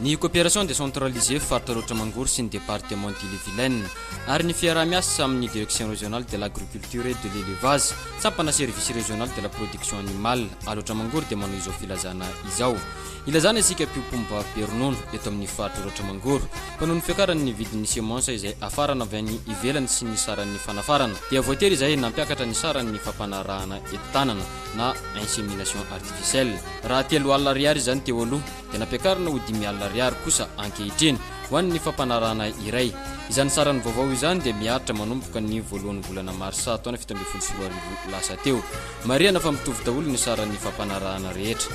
Ny coopération décentralisée faritra Aroatra Mangoro sy ny département d'Ille-et-Vilaine ary ny fiaraha-miasa amin'ny direction régionale de l'agriculture et de l'élevage, sampana service régional de la production animale Aroatra Mangoro dia manao izao filazana izao. Ilazana isika mpiompomba be ronono eto amin'ny faritra Aroatra Mangoro fa noho ny fiakaran'ny vidin'ny semences izay afarana avy any ivelany sy ny saran'ny fanafarana dia voatery izay nampiakatra ny saran'ny fampanarahana eto tanana. na insémination artificielle. Raha telo alina ariary izany teo aloha, dia nampiakarina ho dimy alina ariary kosa ankehitriny, ho an'ny fampanarahana iray. Izany sarany vaovao izany dia miharitra manomboka ny voalohan'ny volana marsa taona fito ambin'ny folo sy roa arivo lasa teo. Marihana fa mitovy daholo ny saran'ny fampanarahana rehetra.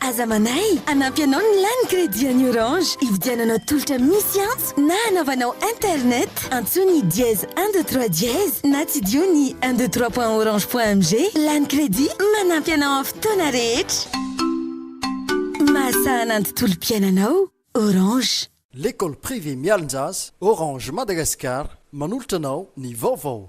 Aza manahy hanampy anao ny lany crédit an'ny Orange. Hividiananao tolotra misy antso na hanaovanao internet, antsoy ny dièse un deux trois dièse na tsidiho ny un deux trois point orange point mg. Lany crédit manampy anao amin'ny fotoana rehetra. Mahasahana ny tontolom-piainanao. Orange. L'école privée Mialonjasy, Orange Madagascar, manolotra anao ny vaovao.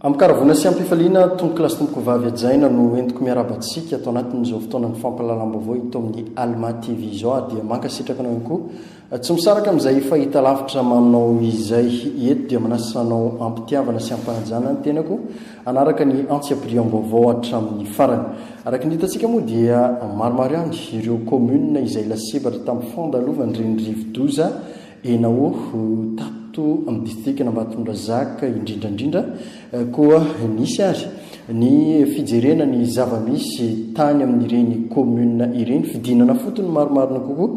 Amim-pikaravoana sy amim-pifaliana, Tompokolahy sy Tompokovavy hajaina no entiko miarahaba antsika ato anatin'izao fotoanan'ny fampahalalam-baovao eto amin'ny Alma TV izao ary dia mankasitraka anao ihany koa tsy misaraka amin'izay fahitalavitra maminao izay. Eto dia manasa anao am-pitiavana sy am-panajana ny tenako hanaraka ny antsiampiriam-baovao hatramin'ny farany. Araka ny hitantsika moa dia maromaro ihany ireo communes izay lasibatra tamin'ny fandalovan'ireny rivo-doza Enaoho, tato amin'ny distrikan'Ambatondrazaka indrindra indrindra koa nisy ary ny fijerena ny zava-misy tany amin'ireny commune ireny, fidinana fotony marimarina kokoa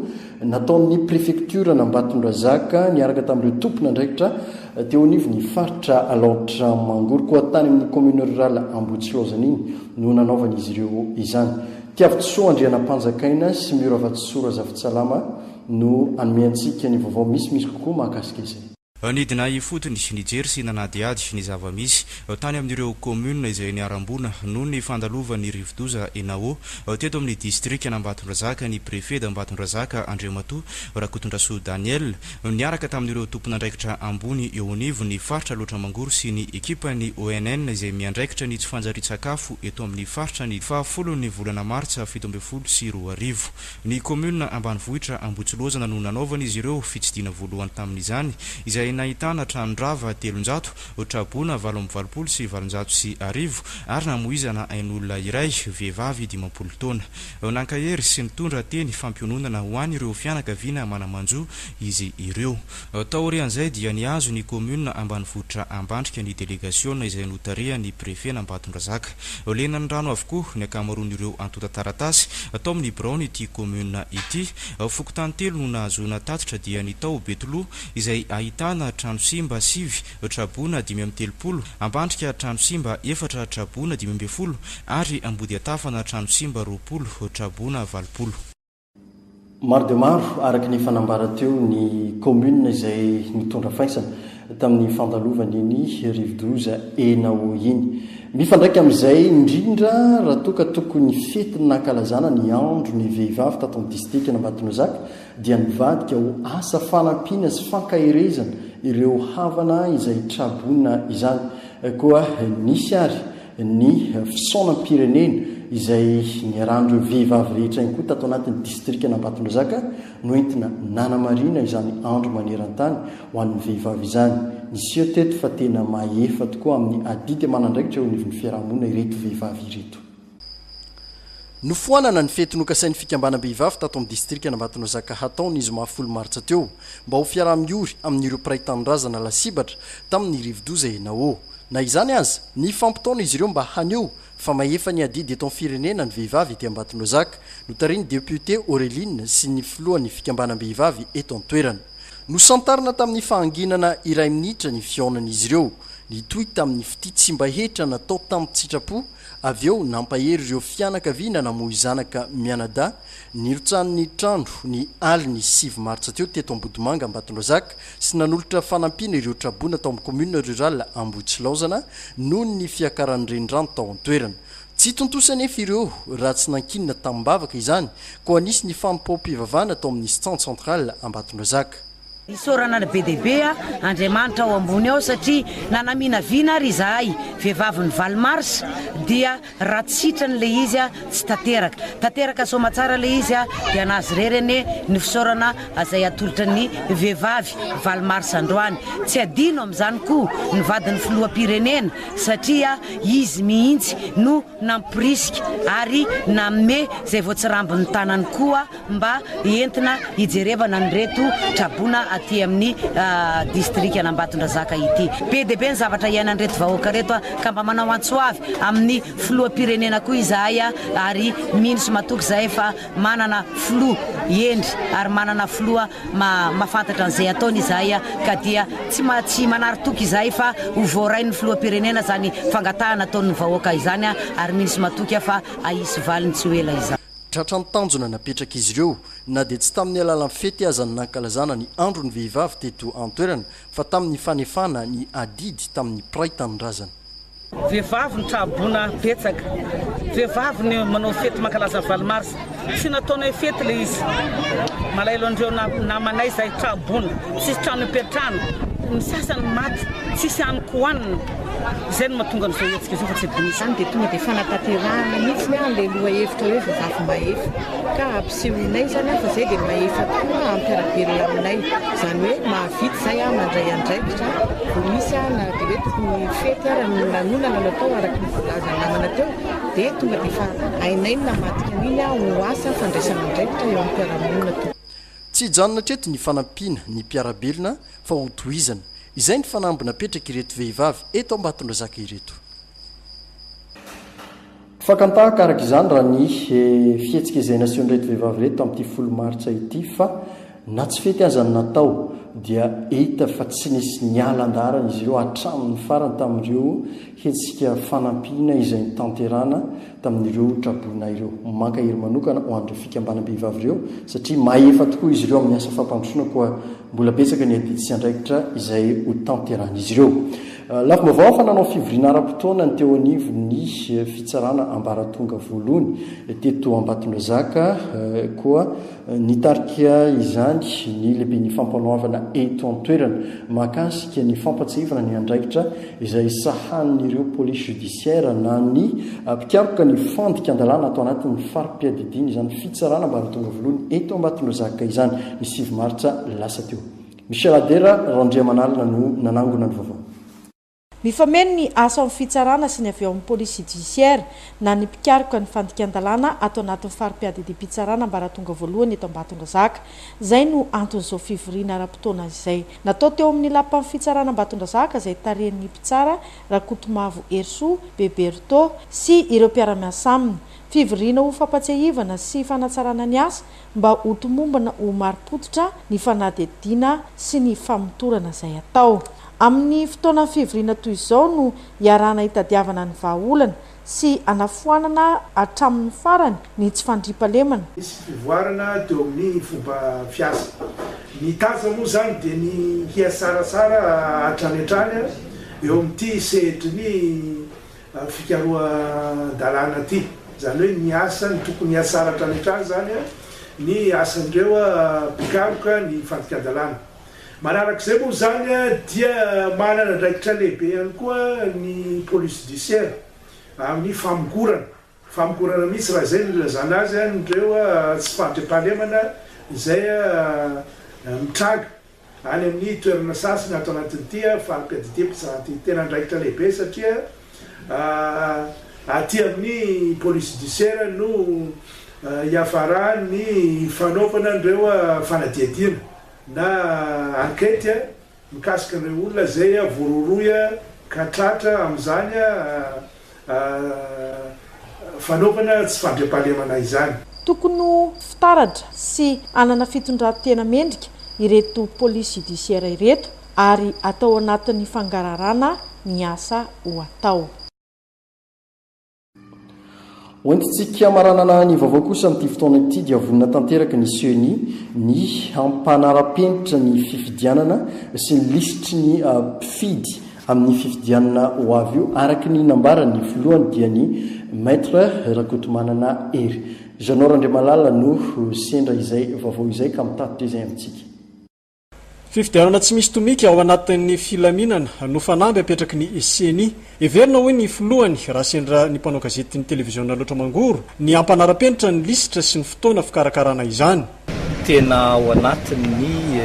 nataon'ny prefektioran'Ambatondrazaka niaraka tamin'ireo tompon'andraikitra teo anivon'ny faritra Alaotra Mangoro koa tany amin'ny commune rural Ambohitsilaozana iny no nanaovan'izy ireo izany. Tiavitsoa Andrianampanjakaina sy Mio Ravatsisoa Razafintsalama, no hanome antsika ny vaovao misimisy kokoa mahakasika izay. Nidina ifotony, nijery sy nanadihady ny zava-misy tany amin'ireo kaominina izay niharam-boina noho ny fandalovan'ny rivodoza Enawo teto amin'ny distrikan'Ambatondrazaka ny Préfet d'Ambatondrazaka Andriamatoa Rakotondrasoa Daniel niaraka tamin'ireo tompon'andraikitra ambony eo anivon'ny faritra Alaotra Mangoro sy ny ekipan'ny ONN izay miandraikitra ny tsy fanjarian-tsakafo eto amin'ny faritra ny fahafolon'ny volana martsa fito ambin'ny folo sy roa arivo. Ny kaominina ambanivohitra Ambohitsolozana no nanaovana izy ireo fitsidina voalohany tamin'izany, izay nahitana trano rava telonjato, traboina valo amby valopolo sy valonjato sy arivo ary namoizana ain'olona iray, vehivavy dimampolo taona. Nankahery sy nitondra teny fampiononana ho an'ireo fianakaviana mana-manjo izy ireo. Taorian'izay dia nihazo ny kaominina ambanivohitra Ambandrika ny delegasiona izay notarihan'ny prefen'Ambatondrazaka. Lenan'ny rano avokoa ny ankamaroan'ireo antontan-taratasy tao amin'ny biraon'ity kaominina ity. Fokontany telo no nahazoana tatitra dia ny tao Betoloha izay ahitana trano simba sivy, Traboina dimy amby telopolo, Ambandrika trano simba efatra, Traboina dimy ambin'ny folo ary Ambodiantafana trano simba roapolo, Traboina valopolo. Maro dia maro araka ny efa nambara teo ny kaominina izay nitondra faisana tamin'ny fandalovan'iny rivodoza Enao iny. Mifandraika amin'izay indrindra raha toa ka tokony fety nankalazana ny andro ny vehivavy tato amin'ny disitrikan'Ambatonozaka dia nivadika ho asa fanampiana sy fankaherezana ireo havana izay traboina izany. Koa nisy ary ny fisaonam-pirenena izay niarahan'ireo vehivavy rehetra ihany koa tato anatin'ny distrikan'Ambatondrazaka no entina nanamarina izany andro maneran-tany ho an'ny vehivavy izany. Niseho teto fa tena mahefa tokoa amin'ny adidy aman'andraikitra eo anivon'ny fiarahamonina ireto vehivavy ireto. Nofoanana ny fety nokasain'ny fikambanam-behivavy tato amin'ny distrikan'Ambatonazaka hatao ny zoma folo martsa teo mba ho fiaraha-miory amin'ireo mpiray tanindrazana lasibatra tamin'ny rivodoza Enawo. Na izany aza, nifampitaona izy ireo mba haneho fa mahefa ny adidy eto amin'ny firenena ny vehivavy ety Ambatonazaka, notarihin'ny depiote Aureline sy ny filohan'ny fikambanam-behivavy eto an-toerana. Nosantarina tamin'ny fahanginana iray minitra ny fihaonan'izy ireo, nitohy tamin'ny fitia tsy mba hetra natao tamin-tsitrapo Avy eo, nampahery ireo fianakaviana namoy zanaka mianadahy nirotsahan'ny trano ny alin'ny sivy martsa teo teto Ambodimanga Ambatondrazaka sy nanolotra fanampiana ireo traboina tao amin'ny commune rurale Ambohitsilaozana noho ny fiakaran'ny renirano tao an-toerana. Tsy tontosa anefa ireo raha tsy nankinina tamim-bavaka izany koa nisy ny fanompoam-pivavahana tao amin'ny Stand Central Ambatondrazaka. Isaorana ny be dia be Andriamanitra ao ambony ao satria nanaminavina ary izahay vehivavy ny valo mars dia raha tsy sitrany ilay izy tsy tanteraka. Tanteraka soamatsara ilay izy dia anazy irery anie ny fisaorana izay atolotra ny vehivavy valo mars androany. Tsy adino amin'izany koa ny vadin'ny filoham-pirenena satria izy mihitsy no nampirisika ary nanome izay voatsirambin'ny tanany koa mba entina hijerevana an'ireto traboina aty amin'ny distrikan'Ambatondrazaka ity. Be dia be ny zavatra iainan'ireto vahoaka ireto ka mba manao antso avy amin'ny filoham-pirenena koa izahay ary mino sy matoky izahay fa manana filoha hendry ary manana filoha Mahafantatra an'izay ataony izahay ka dia tsy manary toky izahay fa ho voarain'ny Filoham-pirenena izany fangatahana ataon'ny vahoaka izany ary mino sy matoky aho fa hahisy valiny tsy ho ela izany. Tratra ny tanjona napetrak'izy ireo, na dia tsy tamin'ny alalan'ny fety aza ny nankalazana ny Andron'ny Vehivavy teto an-toerana fa tamin'ny fanefana ny adidy tamin'ny mpiray tanindrazana. Vehivavy ny tra-boina betsaka. Vehivavy ny manao fety mankalaza valo mars. Tsy nataonay hoe fety ilay izy. Malahelo an'ireo namanay izay tra-boina. Tsisy trano ipetrahana. Ny sasany maty. Tsisy haniko hohanina. Izay no mahatonga an'izao hetsika izao fa tsy adinon'izany dia tonga dia fanatanterahana mihitsy ilay lohahevitra hoe vehivavy mahefa. Sehoinay izany an, fa izay dia mahefa koa hampiara-belona aminay. Izany hoe mahavita izay an, mandray andraikitra. Vao misy an, na dia hoe tokony ho fety ara no lanonana no atao araka ny voalazan'ny namana teo, dia tonga dia efa hainay ny namadika an'iny an, ho asa fandraisana andraikitra eo amin'ny mpiara-monina tokoa. Tsy hijanona hatreto ny fanampiana ny mpiara-belona fa ho tohizana. Izay ny fanamby napetrak'ireto vehivavy eto Ambatondrazaka ireto. Fakan-tahaka araka izany raha ny fihetsika izay nasehon'ireto vehivavy ireto tamin'ity folo martsa ity fa na tsy fety aza ny natao dia hita fa tsy nisy niala andaharana izy ireo hatramin'ny farany tamin'ireo hetsika fanampiana izay notanterahana tamin'ireo traboina ireo. Mankahery manokana ho an'ireo fikambanam-behivavy ireo satria mahefa tokoa izy ireo amin'ny asa fampandrosoana koa mbola betsaka ny adidy sy andraikitra izay hotanterahin'izy ireo. Lafim-baovao fa nanao fivoriana ara-potoana ny teo anivon'ny fitsarana ambaratonga voalohany teto Ambatondrazaka koa nitarika izany ny lehiben'ny fampanoavana eto an-toerana mahakasika ny fampatsiahivana ny andraikitra izay sahanin'ireo police judiciaire na ny mpikaroka ny fandikan-dalàna ato anatin'ny fari-piadidiana izany fitsarana ambaratonga voalohany eto Ambatondrazaka izany ny sivy martsa lasa teo. Michel Adera Randriamanalina no nanangona ny vaovao. Mifameno ny asa ao amin'ny fitsarana sy ny avy ao amin'ny police judiciaire na ny mpikaroka ny fandikan-dalàna ato anatin'ny fari-piadidiam-pitsarana ambaratonga voalohany eto Ambatondrazaka. Izay no anton'izao fivoriana ara-potoana izay natao teo amin'ny lapan'ny fitsarana Ambatondrazaka izay tarihin'ny mpitsara Rakotomavo Herisoa, Beberto, sy ireo mpiara-miasa aminy. Fivoriana ho fampatsiahivana sy fanatsarana ny asa mba ho tomombana ho marim-pototra ny fanadihadiana sy ny famotorana izay atao. Amin'ny fotoana fivoriana toy izao no iarahana hitadiavana ny vahaolana sy hanafoanana hatramin'ny farany ny tsy fandriampahalemana. Nisy fivoarana teo amin'ny fomba fiasa. Ny tasa moa izany dia ny hiasarasara hatrany hatrany eo amin'ity sehatry ny fikarohan-dalàna ity. Izany hoe ny asa, ny tokony hiasara hatrany hatrany izany ny asan'ireo mpikaroka ny fandikan-dalàna. Manaraka izay moa izany dia manana andraikitra lehibe ihany koa ny police judiciaire amin'ny famongorana, famongorana mihitsy raha izay no ilazana azy, an'ireo tsy fahatrepahalemana izay mitranga. Any amin'ny toerana sasany ato anatin'ity faripiady ity mpitsara ity. Tena andraikitra lehibe satria aty amin'ny police judiciaire no hiafaran'ny fanaovana an'ireo fanadihadiana na enquete mikasika an'ireo olona izay voarohirohy ka tratra amin'izany. fanaovana tsy fandriampahalemana izany. Tokony ho fitaratra sy hanana fitondran-tena mendrika ireto police judiciaire ireto ary atao anatin'ny fangararana ny asa ho atao. Hoentintsika maranana ny vaovao kosa amin'ity fotoana ity dia vonona tanteraka ny Ceni ny hampanara-penitra ny fifidianana sy ny lisitry ny mpifidy amin'ny fifidianana ho avy io araka ny nambaran'ny filohany dia ny Maître Rakotomanana Hery. Jeannot Randriamalala no sendra izay vaovao izay ka mitatitra izay amintsika. Fifidianana tsy misy tomika ao anatin'ny filaminana no fanamby apetraky ny ceni. Heverina hoy ny filohany raha sendra ny mpanao gazetin'ny televiziona loatra mangoro ny hampanara-penitra ny lisitra sy ny fotoana fikarakarana izany. Tena ao anatin'ny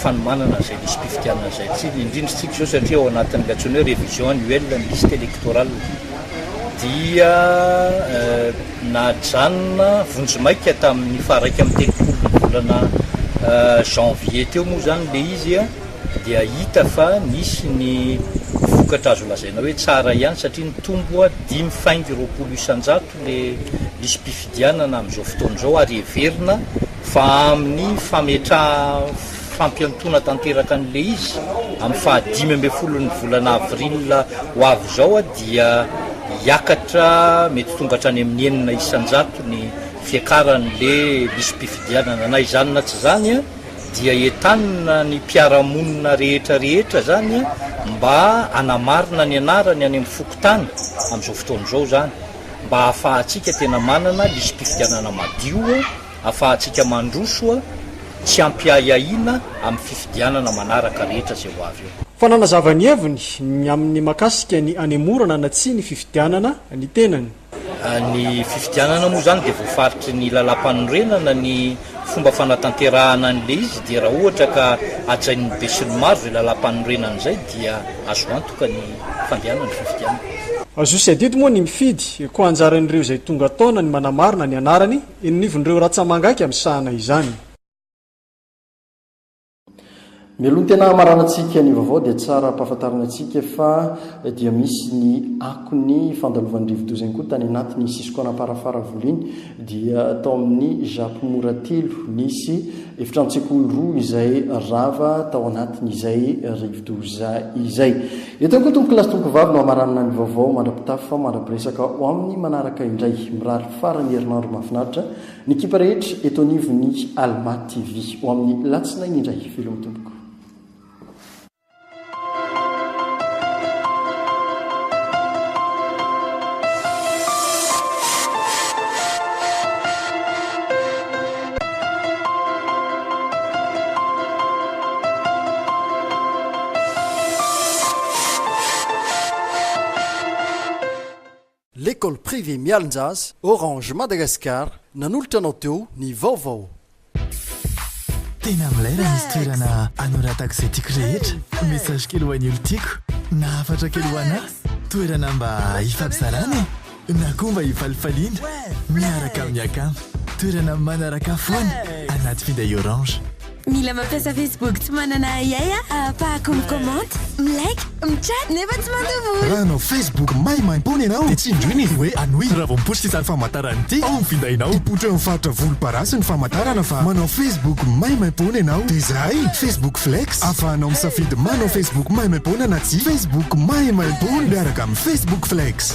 fanomanana izay lisi-pifidianana izay tsika, indrindra isika izao satria ao anatin'ilay antsoina hoe revision annuelle ny liste electorale dia. Najanona vonjimaika tamin'ny faharaika amby telopolo ny volana janvier teo moa izany ilay izy dia hita fa nisy ny vokatra azo lazaina hoe tsara ihany satria nitombo dimy faingo roapolo isan-jato ilay lisi-pifidianana amin'izao fotoana izao ary heverina fa amin'ny fametraha fampiantoana tanteraka an'ilay izy amin'ny faha dimy ambin'ny folon'ny volana avril ho avy izao dia hiakatra mety tonga hatrany amin'ny enina isan-jato ny fiakaran'ilay lisi-pifidianana. Na izany na tsy izany dia entanina ny mpiara-monina rehetra rehetra izany mba hanamarina ny anarany any amin'ny fokontany amin'izao fotoana izao izany mba hahafahantsika tena manana lisi-pifidianana madio afahantsika mandroso tsy ampiahiahiana amin'ny fifidianana manaraka rehetra izay ho avy eo. Fa nanazava ny heviny ny amin'ny mahakasika ny hanemorana na tsia ny fifidianana ny tenany. Ny fifidianana moa izany dia voafaritry ny lalàmpanorenana ny fomba fanatanterahana an'ilay izy dia raha ohatra ka hajain'ny besinimaro izay lalàmpanorenana izay dia azo antoka ny fandehanan'ny fifidianana. Zo sy adidy moa ny mifidy, koa anjaran'ireo izay tonga taona ny manamarina ny anarany Eny nivon'ireo ratsamangaika misahana izany. Mialoha ny tena hamaranantsika ny vaovao dia tsara ampahafantarina antsika fa dia misy ny akon'ny fandalovan'ny rivodoza ihany koa tany anatin'ny sisin-koanam-parafaravola iny dia tao amin'ny Japy Mora telo nisy efitrano-tsekoly roa izay rava tao anatin'izay rivodoza izay. Eto ihany koa tompokolahy sy tompokovavy no hamaranana ny vaovao mandra-pitafy fa mandra-piresaka ho amin'ny manaraka indray. Mirary faran'ny herinandro mahafinaritra ny ekipa rehetra eto anivon'ny Alma TV. Ho amin'ny latsinainy indray. Veloma tompoko. L'école privée Mialonjaz, Orange Madagascar, nanolotra anao teo ny vaovao. Tena milay raha misy toerana anoratako izay tiako rehetra. Message kely ho an'ny olon-tiako na hafatra kely ho anà. Toerana mba hifampizarana e! Na koa mba hifalifaliana miaraka amin'ny akama. Toerana manaraka foana anaty finday orange. Mila mampiasa Facebook tsy manana ahiahy aho ahafahako mi-comment, mi-like, mi-chat nefa tsy mandoa vola. Raha hanao Facebook maimaimpoana ianao dia tsindrio ny hoe Anui. Raha vao miposy ity sary famantarana ity ao amin'ny findainao, hipotro eo amin'ny faritra volomparasy ny famantarana fa manao Facebook maimaimpoana ianao. Dia izay, Facebook Flex. Ahafahanao misafidy manao Facebook maimaimpoana na tsia. Facebook maimaimpoana miaraka amin'ny Facebook Flex.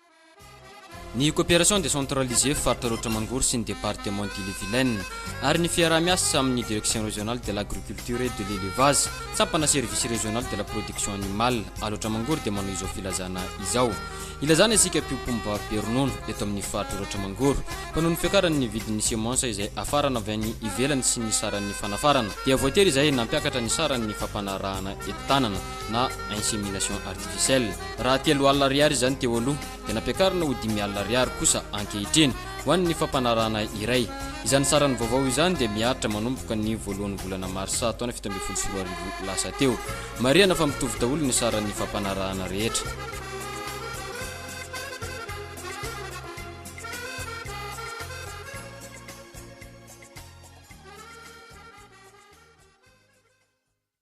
Ny coopération décentralisée faritra Aroatra Mangoro sy ny département d'Ille-et-Vilaine, ary ny fiaraha-miasa amin' ny Direction régionale de l'agriculture et de l'élevage, sampana Service régional de la production animale, Alaotra Mangoro dia manao izao filazana izao. Ilazana isika mpiompom-ba be ronono eto amin' ny faritra Aroatra Mangoro fa noho ny fiakaran' ny vidin' ny semensa izay afarana avy any ivelany sy ny saran' ny fanafarana dia voatery izay nampiakatra ny saran' ny fampanarahana entanana na insémination artificielle. Raha telo alina ariary izany teo aloha, dia nampiakarina ho dimy alina ariary kosa ankehitriny, ho an'ny fampanarahana iray. Izany saran'ny vaovao izany dia miharitra manomboka ny voalohan'ny volana marsa taona fito ambin'ny folo sy roa arivo lasa teo. Marihana fa mitovy daholo ny saran'ny fampanarahana rehetra.